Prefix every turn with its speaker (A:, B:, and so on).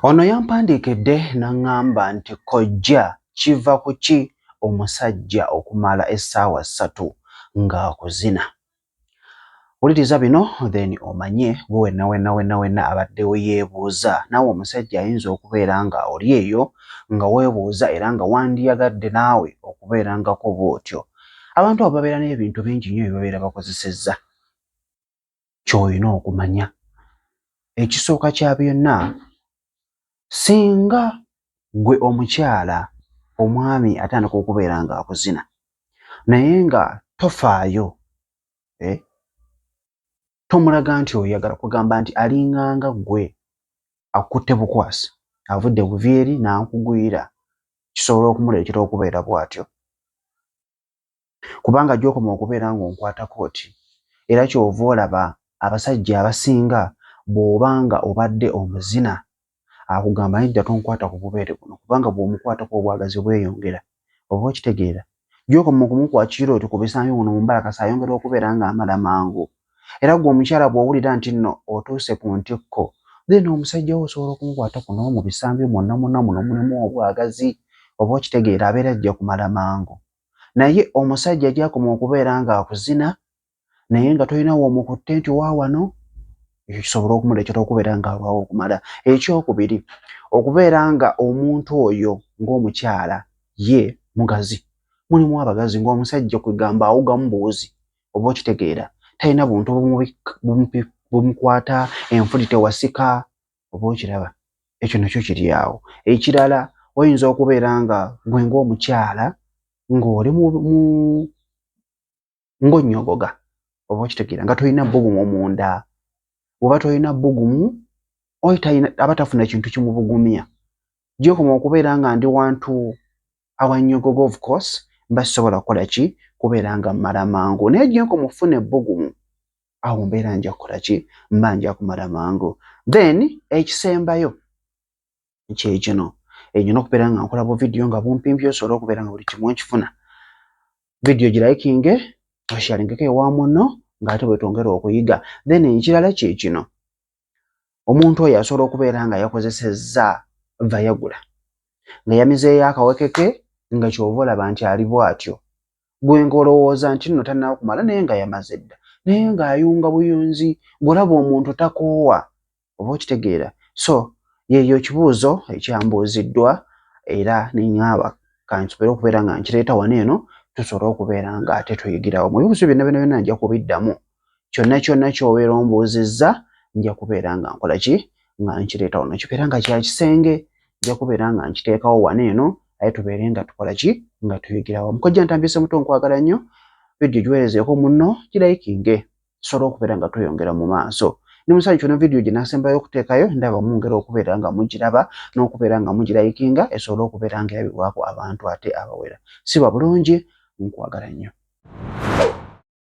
A: Ono yampandiikedde n'aŋŋamba nti, Kojja kiva ku ki omusajja okumala essaawa ssatu ng'akuzina? Wuliriza bino then omanye. Gwe wenna wenna wenna wenna abaddewo yeebuuza naawe omusajja ayinza okubeera nga oli eyo nga weebuuza era nga wandiyagadde naawe okubeerangako bw'otyo. Abantu abo babeera n'ebintu bingi nnyo bye babeera bakozesezza. ky'olina okumanya. Ekisooka kya byonna, singa ggwe omukyala omwami atandika okubeera ng'akuzina naye nga tofaayo, eh, tomulaga nti oyagala kugamba nti alinganga ggwe akutte bukwasi avudde buvi eri n'akugwira kisobola okumuleetera okubeera bw'atyo. kubanga gy'okoma okubeera ng'onkwata kooti era ky'ova olaba abasajja abasinga bw'oba nga obadde omuzina akugamba naye ddala tonkwata ku bubeere buno kubanga bw'omukwatako obwagazi bweyongera oba okitegeera gy'okoma okumukwakira otyo ku bisambi muno mu mbalakasa ayongera okubeera ng'amala mangu era gwe omukyala bw'owulira nti nno otuuse ku ntikko then omusajja wo osobola okumukwata ku n'omu bisambi mwonna mwonna muno mulimu obwagazi oba okitegeera abeera ajja kumala mangu naye omusajja gyakoma okubeera ng'akuzina naye nga tolina woomukutte nti wa wano ekyo kisobola okumuleetera okubeera ng'alwawo okumala ekyokubiri okubeera nga omuntu oyo ng'omukyala ye mugazi mulimu abagazi ng'omusajja kwegamba awugamu buwuzi oba okitegeera talina buntu bumukwata enfuti tewasika oba okiraba ekyo nakyo kiri awo ekirala oyinza okubeera nga gwe ngaomukyala ng'oli ng'onnyogoga oba okitegeera nga tolina bbugumu munda oba tolina bbugumu oy aba tafuna kintu kimubugumya gyokoma okubeera nga ndi wantu awanyogoga of course mba sisobola kukola ki kubeera nga mmala mangu naye gyenka omufuna ebbugumu awo mbeera nja kukola ki mba nja kumala mangu then ekisembayo kyekino enyina okubeera nga nkola buvidiyo nga bumpimpi osobola okubeera nga buli kimu nkifuna vidiyo girayikinge oshalingeko ewa muno ngaate bwetwongera okuyiga then ekirala kyekino omuntu oyo asobola okubeera nga yakozesezza vayagula nga yamizeeyo akawekeke nga kyova olaba nti ali bwatyo gwe nga olowooza nti nno tannaba kumala naye nga yamaze dda naye ng'ayunga buyunzi gwolaba omuntu takoowa oba okitegeera so yeeyo ekibuuzo ekyambuuziddwa era neŋŋamba kansobere okubeera nga nkireeta wano eno tusobole okubeera ng'ate tuyigirawo mu bibuuzo byonna byonna byonna nja kubiddamu kyonna kyonna kyobeera ombuuzizza nja kubeera nga nkola ki nga nkireeta wano kibeera nga kya kisenge nja kubeera nga nkiteekawo wano eno aye tubeere nga tukola ki nga tuyigira wamu kojja ntambyise muto nkwagala nnyo vidiyo giweerezeeko munno girayikinge tusobola okubeera nga tweyongera mu maaso ne musajja ono vidiyo gye nasembayo okuteekayo ndaba mungera okubeera nga mugiraba n'okubeera nga mugirayikinga esobole okubeera nga erabibwako abantu ate abawera siba bulungi nkwagala nnyo